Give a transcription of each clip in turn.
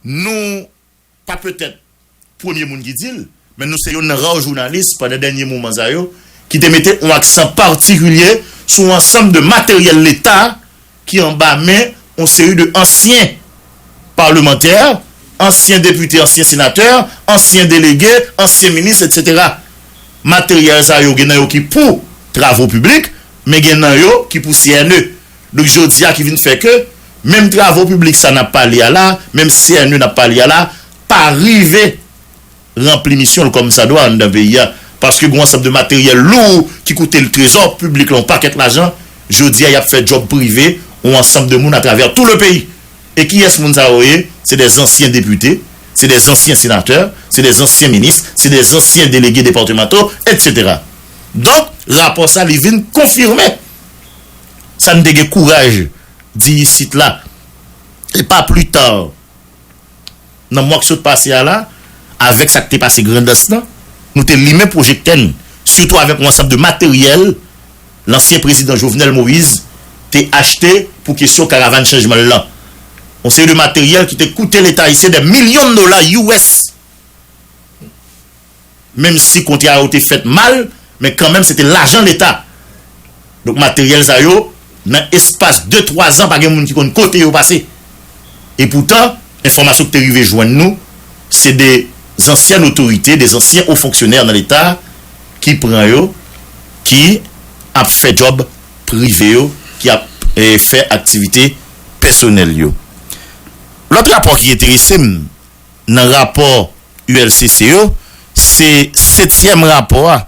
Nou pa petèt premye moun ki di l, men nou se youn nan ra jounalis pandan dènye moman sa yo ki te mete on aksan patikilye sou on ansanm de materyèl leta ki anba men on seri de ansyen palemantè, ansyen depite, ansyen senatè, ansyen delege, ansyen minis etsetera. Materyèl sa yo gen nan yo ki pou travo piblik, men gen nan yo ki pou CNE. Donk jodi a ki vin fè ke menm travo piblik sa nap pale a la, menm CNE nap pale a la pa rive ranpli misyon l kòmsadwa anndan peyi a paske gon ansanm de materyèl lou ki koute l trezò piblik la yon pakèt lajan jodi a yap fè djòb prive yon ansanm de moun atravè tou le peyi. E kiyès moun sa yo ye? Se dè zansyen depite, se dè zansyen senatè, se dè zansyen minis, se dè zansyen delege departemanto etc. Donk rapò sa li vin konfime. Sa n te gen kouraj di isit la, e pa pli ta nan mwa k sot pase a la, avèk sa k te pase Grandans lan, nou te limen pwojektè n, sitou avèk yon ansanm de materyèl lansyen prezidan Jovenel Moïse te achte pou kesyon Karavan Chanjman l lan. Yon seri de materyèl ki te koute Leta ayisyen dè milyon dola US. menm si kontra yo te fèt mal men kanmenm se te lajan leta donk materyèl sa yo nan espas de twa zan pa gen moun ki konn kote yo pase e poutan enfòmasyon ki te rive jwenn nou se de zansyèn otorite de zansyen o fonksyonè nan leta ki pran yo ki ap fè djòb prive yo ki ap fè aktivite pèsonèl yo lòt rapò ki enterese m. nan rapò ULCC yo, se setyèm rapò a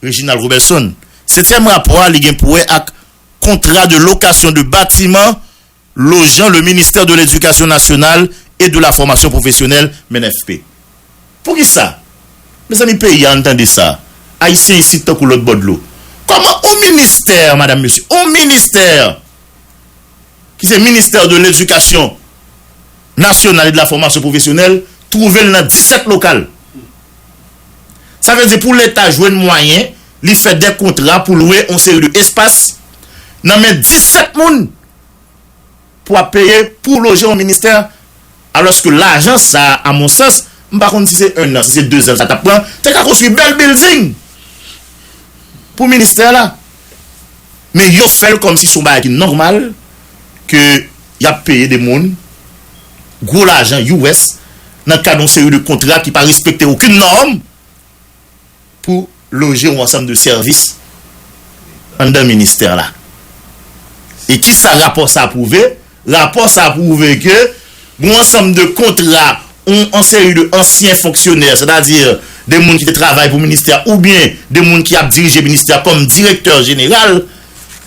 Reginald Roberson. Setyèm rapò a li gen pou wè ak Contrat de location de bâtiment logeant le Ministère de l'Éducation nationale et de la Formation professionnelle, menfp. Pou ki sa? Mezanmi peyi a ann tande sa, Ayisyen isit tankou lòt bò dlo. Kòman on ministè, madam mesye, on ministè! ki se Ministère de l'Education Nationale et de la Formation Professionnelle twouve l nan 17 lokal. Sa vle di pou leta jwenn mwayen li fè de kontra pou lwe yon seri de espas nan men 17 moun pou ap peye pou loje yon ministè. Alòske lajan sa a a mon sans, m pa konn si se 1 an, si se 2 zan sa t ap pran, te ka konstwi bèl bilding pou ministè la. Men yo fè l kòm si se yon bagay ki nòmal ke y ap peye de moun gwo lajan US nan kad yon seri de kontra ki pa respekte okenn nòm. pou loje yon ansanm de sèvis anndan ministè la. E ki sa rapò sa pwouve? Rapò sa pwouve ke yon ansanm de kontra yon seri de ansyen fonksyonè, sètadi de moun ki te travay pou ministè oubyen de moun ki ap dirije ministè kòm direktè jeneral,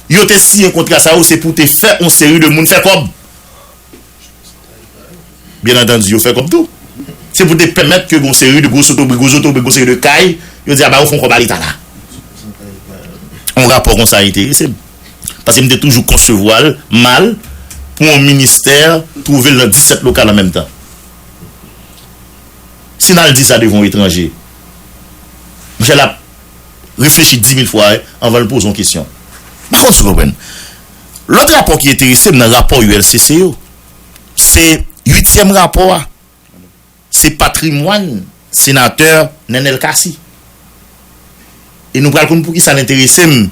yo te siyen kontra sa yo se pou te fè yon seri de moun fè kòb. Byen antandi yo fè kòb tou. Se pou te pèmèt ke gon seri de gwo sotobri, gwo zotobri, gon seri de kay, yo di a ba yo fon kòb a leta la. On rapò konsa enterese m. Paske m te toujou konsevwa l mal pou on ministè twouve l nan 17 lokal an menm tan. Si n al di sa devan on etranje, monchè l ap reflechi 10 mil fwa anvan l poze on kesyon. M pa konn si w konprann. Lòt rapò ki enterese m nan rapò ULCC yo, se uityèm rapò a, se patrimwàn senatè Nenel Cassy. E nou pral konn pou ki sa l enterese m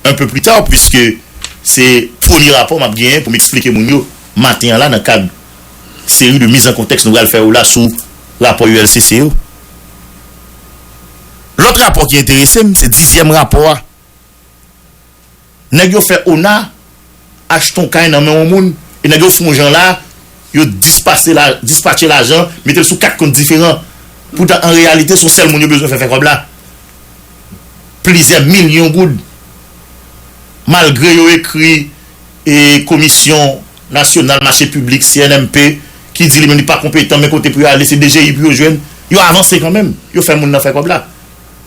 un peu plus tard puiske se premye rapò m ap genyen pou m eksplike moun yo maten an la nan kad seri de mise en contexte nou pral fè yo la sou rapò ULCC yo. Lòt rapò ki enterese m se dizyèm rapò a. Nèg yo fè ona achte yon kay nan men yon moun e nèg yo fon jan la yo dispatche lajan mete l sou 4 kont diferan poutan an reyalite son sèl moun yo bezwen fè fè kòb la plizyè milyon goud malgre yo ekri komisyon nasyonal mache piblik CNMP ki di li menm li pa konpetan men kote pou yo ale se DGI pou yo jwenn yo avanse kanmenm yo fè moun nan fè kòb la.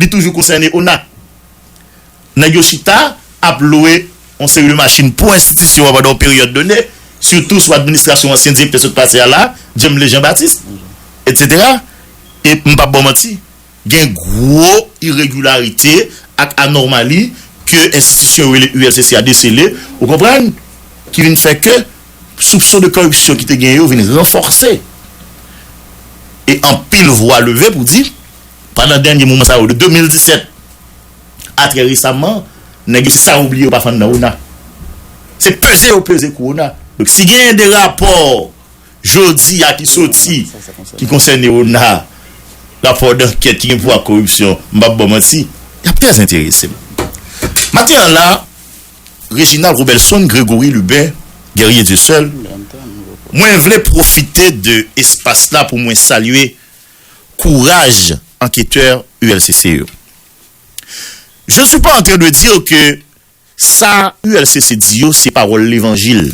Li toujou konsène ona. Nèg yo chita ap lwe yon seri de machin pou enstitisyon an pandan yon peryòd done, sitou sou administrasyon ansyen direktè sot pase a la, Djemle Jean Baptiste, etsetera. E m p ap ba w manti, gen gwo iregilarite ak anòmali ke enstitisyon yo rele ULCC a desele, ou konprann, ki vin fè ke soupson de kòripsyon ki te gen yo vin ranfòse. E anpil vwa leve pou di. Pandan dènye moman sa yo de 2017 a trè resamman, nèg yo se sa yo bliye yo pa fann nan ona. Se peze yo peze kou ona. Donk si genyen de rapò jodi a ki soti ki konsène ona, rapò dankèt ki gen pou wè ak koripsyon, m p ap ba w manti, y ap trè enterese m. Maten an la, Reginald Robelson, Grégory Lubin, Guerrier Dieuseul, mwen vle pwofite de espas la pou mwen salye kouraj anketè ULCC yo. Je ne suis pas en train de dire que sa ULCC di yo se pawòl levanjil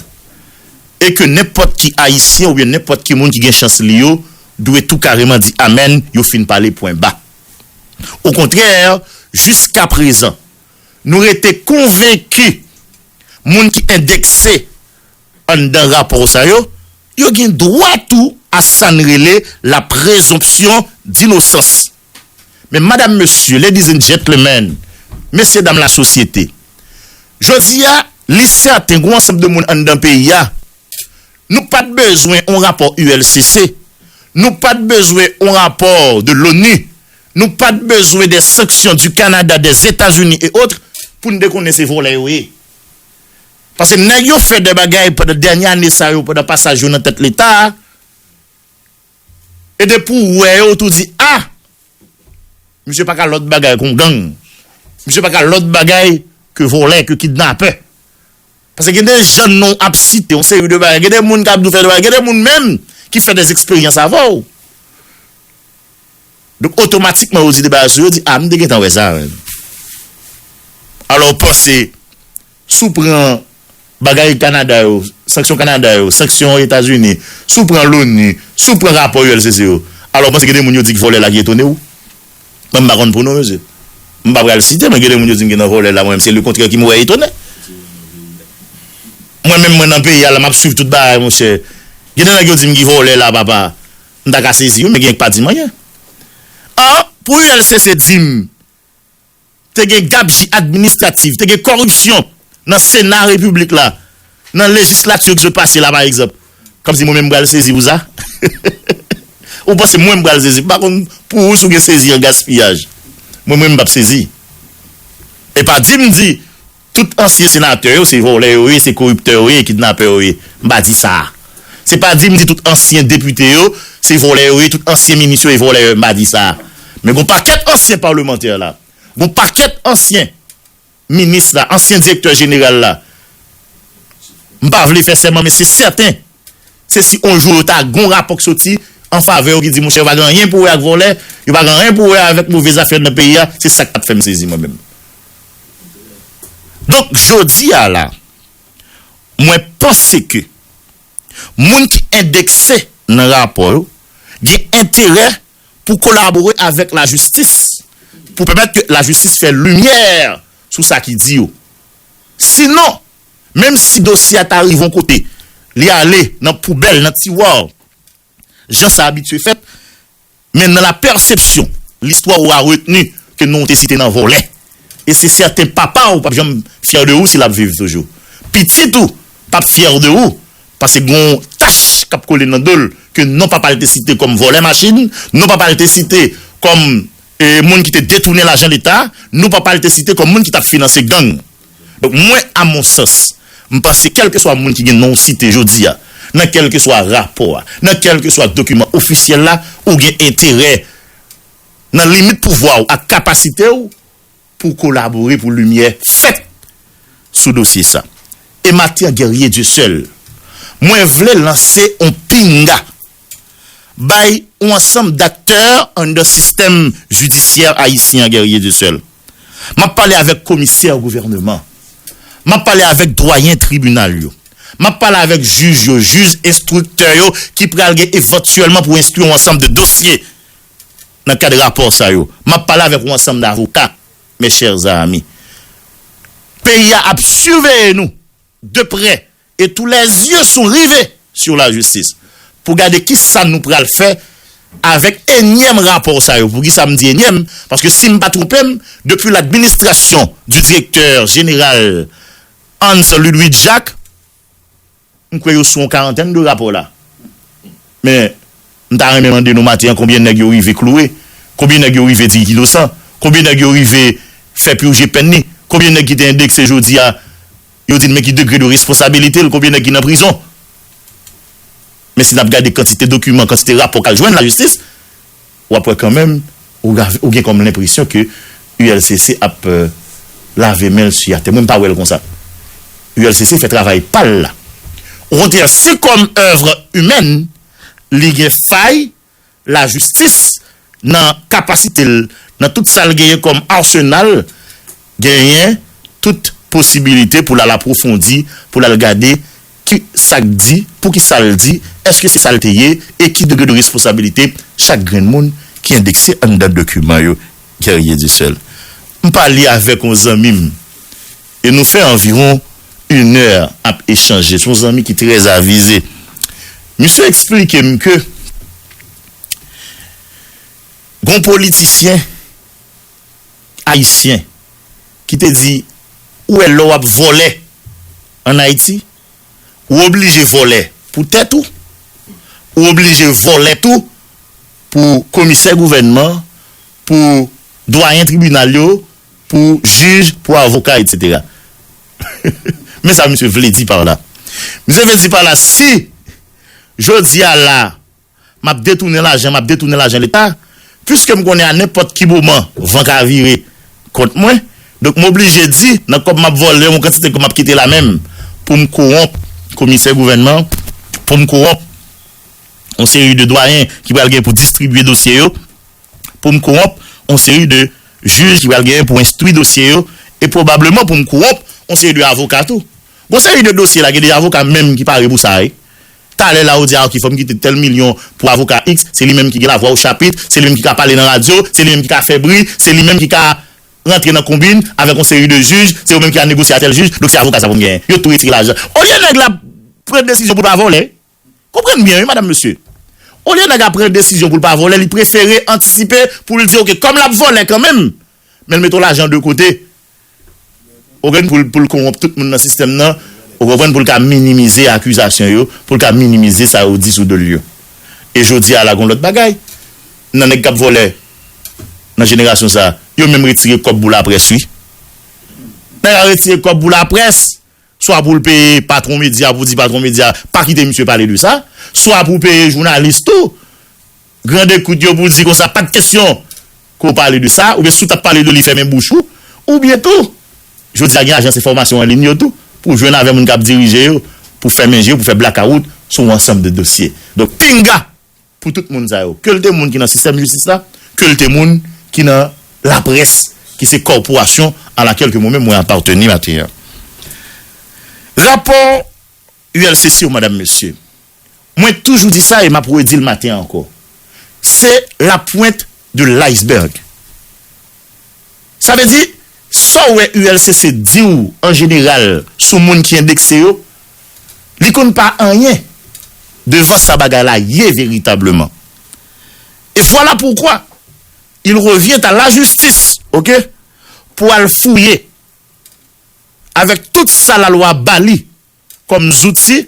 e ke nenpòt ki Ayisyen oubyen nenpòt ki moun ki gen chans li yo dwe tou kareman di amèn yo fin pale pwen ba. Okontrè, jiska prezan, nou rete konvenki moun ki endekse Anndan rapò sa yo, yo gen dwa tou a sa n rele la prezonpsyon dinosans. Men madam mesye, ladies and gentlemen, mesye dam lasosyete, jodi a, li sèten g'on ansanm de moun anndan peyi a, nou pa t bezwen on rapò ULCC, nou pa t bezwen on rapò de l'ONU, nou pa t bezwen des sanctions du Canada, des Etats-Unis et autres, pou n te konnen se vòlè yo ye. Pase nèg yo fè dè bagay pandan dènye ane sa yo pandan pasaj yo nan tèt leta a, e depi ou wè yo ou tou di a! Misye pa ka lòt bagay kon gang, misye pa ka lòt bagay ke vòlè, ke kidnapè. Pase gen de jèn non ap site yon seri de bagay, gen de moun kap di ou fè de bagay, gen de moun menm ki fè dè eksperyans avè ou. Donk otomatikman ou di de bagay sou yo, ou di a m te gentan wè sa menm. Alò ou panse. Si w pran bagay Kanada yo, sanksyon Kanada yo, sanksyon Etazini, si w pran l'ONU, si w pran rapò ULCC yo, alò ou panse gen de moun yo di k vòlè la ki etone w? Mwen m pa konn pou nou mesye. M pa pral site men gen de moun yo di m gen nan vòlè la mwen menm se le kontrè ki m wè etone. Mwen menm mwen nan peyi a la m ap swiv tout bagay monchè. Gen de nèg yo di m ki vòlè la papa. M ta ka sezi wi men gen k pa di m anyen. An pou ULCC di m. te gen gabji administratif, te gen kòripsyon nan sena repiblik la, nan lejislati ki sot pase la pa egzanp. Kòm si mwen menm m pral sezi pou sa? Ou panse mwen m pral sezi? M pa konn pou ou si w gen sezi an gaspiyaj. Mwen menm m p ap sezi. E pa di m di. Tout ansyen senatè yo se vòlè yo ye, se koriptè yo ye e kidnapè yo ye. M pa di sa. Se pa di m di tout ansyen depite yo se vòlè yo ye, tout ansyen minis yo e vòlè yo ye, m pa di sa. Men gon pakèt ansyen palmantè la, gon pakèt ansyen minis la, ansyen direktè jeneral la, m pa vle fè sèman men se sèten, Se si on jou yo ta gon rapò k soti an favè yo ki di monchè yo pa gen anyen pou wè ak vòlè, yo pa gen anyen pou wè avèk move zafè nan peyi a, se sak tap fèm sezi mwen menm. Donk jodi a la mwen panse ke moun ki endekse nan rapò yo gen enterè pou kolabore avèk lajistis pou pèmèt ke lajistis fè limyè sou sa ki di yo. Sinon. Menm si dosye a ta rive yon kote, li ale nan poubèl, nan tiwa, jan sa abitye fèt, men nan la pèsepsyon, listwa ou a retni ke non ou te site nan vòlè. E se sèten papa ou pap janm fyè de ou si lap viv toujou. Pitit ou pap fyè de ou paske gen yon tach kap kole nan do l ke non papa l te site kòm vòlè machin, non papa l te site kòm moun ki te detounen lajan leta, non papa l te site kòm moun ki tap finanse gang. Donk mwen a mon sans, m panse kèlkeswa moun ki gen non w site jodi a, nan kèlkeswa rapò a, nan kèlkeswa dokiman ofisyèl la, ou gen enterè, nan limit pouvwa w ak kapasite w, pou w kolabore pou limyè fèt sou dosye sa. Ematian Guerrier Dieuseul, mwen vle lanse on pinga. bay yon ansanm daktè anndan sistèm jidisyè ayisyen an Guerrier Dieuseul. M ap pale avèk komisè gouvèneman. M ap pale avèk dwayen tribinal yo. M ap pale avèk jij yo, jij enstriktè yo ki pral gen evantyèlman pou enstwi yon ansanm de dosye nan kad rapò sa yo. M ap pale avèk yon ansanm davoka, mes chers amis. Peyi a ap siveye nou de prè E tou lè zye sou rive sur la jistis pou gade ki sa nou pral fè avèk enyèm rapò sa yo. Pou ki sa m di enyèm? Paske si m pa twonpe m, depi l'administration du directeur général Hans Ludwig Jacques, m kwè yo sou yon karantèn de rapò la. Men. M ta renmen mande nou maten an konbyen nèg yo rive kloure? Konbyen nèg yo rive di inosan? Konbyen nèg yo rive fè purje pèn ni? Konbyen nèg ki te endekse jodi a yo di n men ki degre de responsabilite l? Konbyen nèg ki nan prizon? Men si n ap gade kantite dokiman, kantite rapò k al jwenn lajistis, w ap wè kanmenm ou gen kòm lenpresyon ke ULCC ap lave men l siyatè. Mwen m pa wè l konsa. ULCC fè travay pa l la. Okontrè se kòm oeuvre humaine. li gen fay lajistis nan kapasite l, nan tout sa l genyen kòm arsenal, genyen tout posibilite pou l al apwofondi, pou l al gade ki sa k di, pou ki sa l di, èske se sa l te ye e ki degre de responsabilite chak grenn moun ki endekse anndan dokiman yo. Guerrier Dussel, M pale avèk yon zanmi m e nou fè anviwon inè ap echanje. Se yon zanmi ki trè avize. Misye eksplike m ke gen yon politisyen ayisyen ki te di, ou wè lè w ap vòlè an Ayiti, ou oblije vòlè pou tèt ou, ou oblije vòlè tou pou komisè gouvènman, pou dwayen tribinal yo, Pou jij, pou avoka etc. Men sa misye vle di par la. Misye vle di par la si jodi a la map detounen lajan, map detounen lajan leta, puiske m konnen a nenpòt ki moman van ka vire kont mwen, donk m oblije di nan kòb map vòlè yon kantite kòb map kite la menm pou m kowonp komisè gouvènman, pou m kowonp yon seri de dwayen ki pral gen pou distribye dosye yo. pou m kowonp yon seri de jij ki pral genyen pou enstwi dosye yo e pwobableman pou m kowonp yon seri de avoka tou. Gon seri de dosye la gen de avoka menm ki pare pou sa wi. Talè la ou di a ok fò m kite tèl milyon pou avoka iks, se li menm ki gen lavwa o chapit, se li menm ki ka pale nan radyo, se li menm ki ka fè bri, se li menm ki ka rantre nan konbin avèk yon seri de jij, se yo menm ki ka negosye a tèl jij, donk se avoka sa pou m genyen. Yo tou retire lajan. Olye nèg la pran desizyon pou l pa vòlè, Konprann byen wi madam mesye. Olye nèg a pran desizyon pou l pa vòlè li prefere antisipe pou l di ok kòm l ap vòlè kanmenm men l mete yon lajan de kote ou gen pou l konwonp tout moun nan sistèm nan ou konprann pou l ka minimize akizasyon yo pou l ka minimize sa yo di sou do l yo. E jodi a la gon lòt bagay nan nèg k ap vòlè nan jenerasyon sa yo menm retire kòb pou laprès wi. Nèg a retire kòb pou laprès. swa pou l peye patwon medya pou di patwon medya pa kite misye pale de sa, swa pou peye jounalis tou, grand ekout yo pou di konsa pa t kesyon ke w pale de sa, oubyen si w t ap pale de li fèmen bouch ou, oubyen tou, jodi a gen ajans enfòmasyon an lin yo tou, pou jwenn avè moun k ap dirije yo, pou fèmen je, pou fè blakawout sou yon ansanm de dosye. Donk, pinga! pou tout moun sa yo, ke l te moun ki nan sistèm jistis la, ke l te moun ki nan laprès, ki se kòporasyon a lakèl ke mwen menm mwen apateni maten an. Rapò ULCC yo, madam, mesye, mwen toujou di sa e m ap redi l maten an ankò, se la pwent de l iceberg. Sa vle di, sa w wè ULCC di w an jeneral sou moun ki endekse yo, li konn pa anyen devan sa bagay la ye veritableman. Et voilà pourquoi il revient à la justice, ok, pou al fouye avèk tout sa lalwa ba li kòm zouti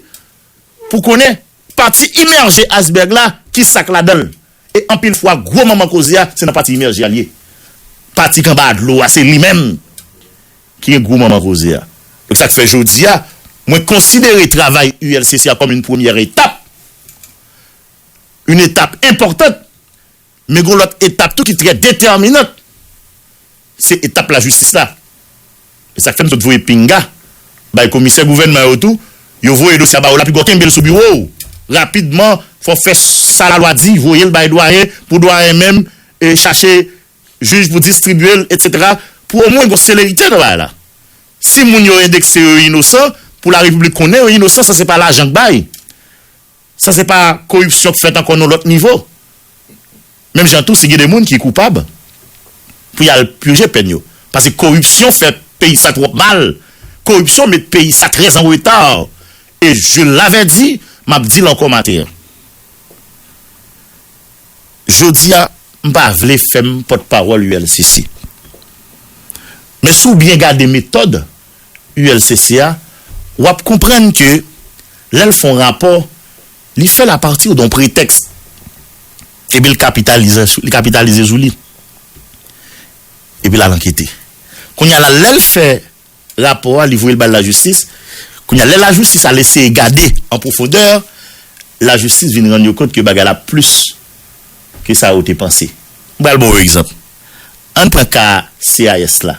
pou konnen pati imèje aysberg la ki sa k ladan l e anpil fwa gwo manman koze a se nan pati imèje a l ye pati k anba dlo a se li menm ki gen gwo manman koze a donk sa k fè jodi a mwen konsidere travay ULCC a kòm yon premyè etap yon etap enpòtant. Men gon lòt etap tou ki trè detèminant, se etap lajistis la. E sa k fè m sot voye pinga bay komisè gouvènman yo tou, yo voye dosye a ba ou la pi gò kenbe l sou biwo w rapidman, fò w fè sa lalwa di, voye l bay dwayen pou dwayen menm chache jij pou distribye l etsetera pou omwen gon selerite nan bagay la. Si moun yo endekse yo inosan, pou larepiblik konnen yo inosan san se pa lajan k bay. Sa se pa koripsyon k fèt ankò nan lòt nivo. Menm jan tou si gen de moun ki koupab pou y al pije pèn yo. Pase koripsyon fè peyi sa twòp mal, koripsyon met peyi sa trè an reta. E Jules Laverdy, m ap di l ankò maten an. Jodi a, m pa vle fè m pòtpawòl ULCC. Men si w byen gade metòd ULCC a, w ap konprann ke lè l fè yon rapò, li fè l apati don pretèks, epi l kapitalize sou li, epi l al ankete. Kounye a la, lè l fè rapò a, li voye l bay lajistis, kounye a, lè lajistis al eseye gade an pwofondè, lajistis vin rann yo kont ke bagay la plis ke sa yo te panse. M pral ba w yon egzanp. Ann pran ka CIS la.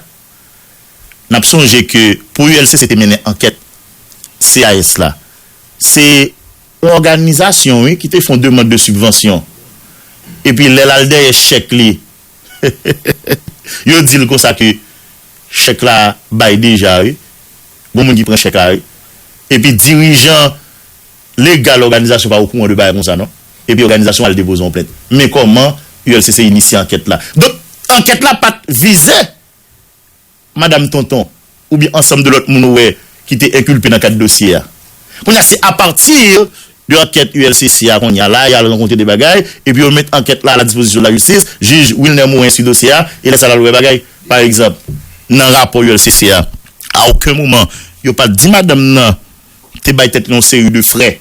N ap sonje ke pou ULCC te mennen ankèt CAS la, se. Yon òganizasyon wi ki te fon demand de sibvansyon. Epi lè l al dèyè chèk li, yo di l konsa ke chèk la bay deja wi. Gon moun ki pran chèk la wi. Epi dirijan. Legal òganizasyon pa okouran de bagay konsa non. Epi òganizasyon al depoze yon plent. Men kòman ULCC inisye ankèt la. Donk ankèt la pat vize Madam Tonton oubyen ansanm de lòt moun ou wè ki te enkilpe nan kad dosye a. Kounye a se apati de ankèt ULCC a kounye a la y al rankontre de bagay epi yo met ankèt la a la dispozisyon de la jistis. Jij Wilner Morin enstwi dosye a e lè sa l al wè bagay. Paregzanp nan rapò ULCC a a oken moman yo pat di madanm nan te bay tèt li yon seri de frè.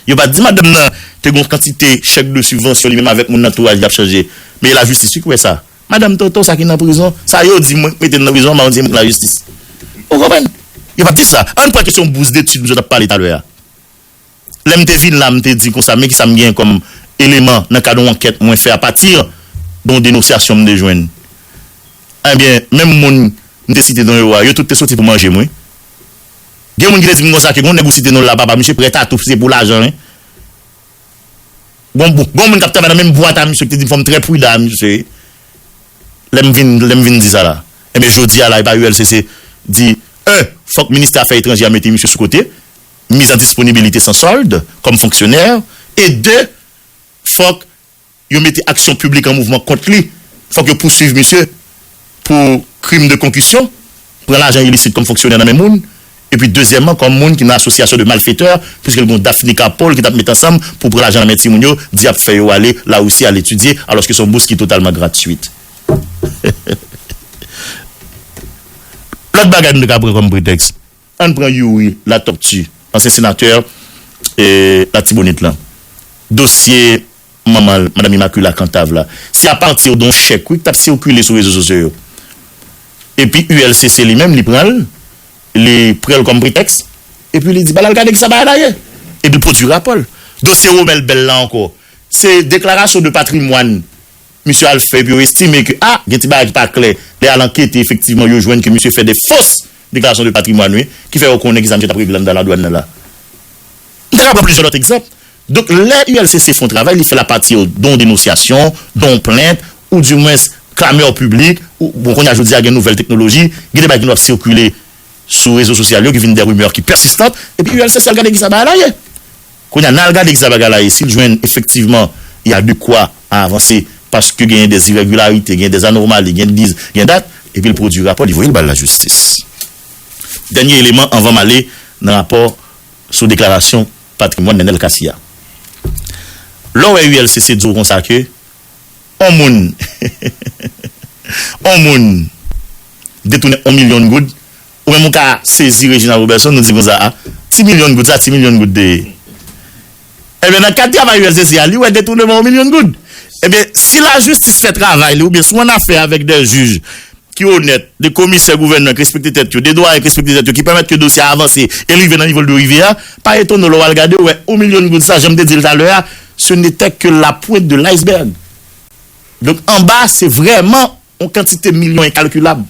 Yo pa t di madanm nan te gen yon kantite chèk de sibvansyon li menm avèk moun nan antouraj li ap chanje. Men lajistis wi ki wè sa. Madanm Toto sa ki nan prizon, sa yo di mwen ki mete l nan prizon an, m ap di mwen ki lajistis. Ou konprann? Yo pa t di sa. Ann pran kesyon bous detid misye t ap pale talè a. Lè m te vin la, m te di konsa men kisa m genyen kòm eleman nan kad yon ankèt mwen fè apati de yon denosyasyon m te jwenn. Enben, menm moun m te site non yo a, yo tout te soti pou manje m wi. Gen moun ki te di m konsa ke gon nèg ou site non l la papa misye prèt a tou si se pou lajan wi. Gon gon moun k ap travay nan menm bwat a misye ki te di m fò m trè pridan a misye lè m vin lè m vin di sa la. Enben jodi a la epa ULCC di 1 fòk ministè afè etranjè a mete misye sou kote, mise en disponibilité sans solde, kòm fonksyonè e 2 fòk Yo mete aksyon piblik an mouvman kont li, fòk yo pouswiv misye pou krim de konkisyon, pran lajan ilisit kòm fonksyonè nan men moun, epi dezyèmman kòm moun ki nan asosyasyon de malfetè, piske l gen yon daf nika po l ki t ap met ansanm pou pran lajan nan men timoun yo, di y ap fè yo ale Larisi al etidye, alòske se yon bous ki totalman gratwit. Lòt bagay nou te ka pran kòm pretèks. Ann pran Youri Latòpti, ansyen senatè Latibonit lan. Dosye manman l, Madam Imakila Kantav la, se apati de yon chèk wi ki t ap sikile sou rezo sosyo yo. Epi ULCC li menm li pran l, li pran l kòm pretèks, epi li di ba l al gade kisa bagay la ye. Epi l pwodui rapò l. Dosye Romel Bell la ankò, se deklarasyon de patrimwàn. Misye al fè epi yo estime ke ah gen ti bagay ki pa klè, lè al ankete efektivman yo jwenn ke misye fè de fos deklarasyon de patrimwàn wi, ki fè yo konnen kisa misye tap regle anndan ladwàn nan la. M ta ka pran plizyè lòt egzanp. Donk lè ULCC fon travay li fèl a pati don denosyasyon, don plent, ou di mwens klameur piblik, ou bon kounye a jodi a gen nouvèl teknoloji, gen de bagay ki nou ap sikile sou rezo sosyal yo ki vin de rumeur ki persistant, epi ULCC al gade kisa bagay la ye. Kounye a, n al gade kisa bagay la ye, si l jwenn efektivman y a de kwa a avanse paske genyen dè irègilarite, genyen dè anormali, genyen dè genyen dat, epi l pwodui rapò, li voye l bay lajistis. Dènye eleman anvan m ale nan rapò sou deklarasyon patrimwàn Nenel Cassy a. Lè w wè ULCC di w konsa ke on moun on moun detounen on milyon goud, Ou menm ou ka sezi Reginald Roberson nou di konsa a ti milyon goud sa ti milyon goud te ye ebyen nan kad travay usdc a li wè detournement 1 milyon goud ebyen si lajistis fè travay li oubyen si w an afè avèk dè jij ki onèt de komisè gouvènman ki respekte tèt yo de dwayen ki respekte tèt yo ki pèmèt ke dosye a avanse e li rive nan nivo l dwe rive a pa etone w lè w al gade w wè 1 milyon goud sa janm te di l talè a ce n'était que la pointe de l'iceberg donk anba se vrèman. On kantite milyon enkalkilab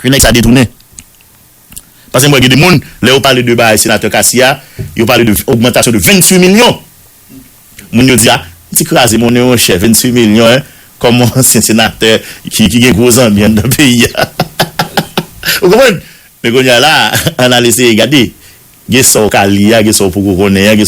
ke nèg sa detounen. Pase m wè gen de moun, lè yo pale de bagay Senatè Cassy a, yo pale de ogmantasyon de 28 milyon. Moun yo di a, m ti kraze monnen mon chè, 28 milyon hein, kòm on ansyen senatè ki gen gwo zanmi anndan peyi a. Ou konprann? Men kounye a la, an al eseye gade. Gen sa w ka li a, gen sa w poko konnen an.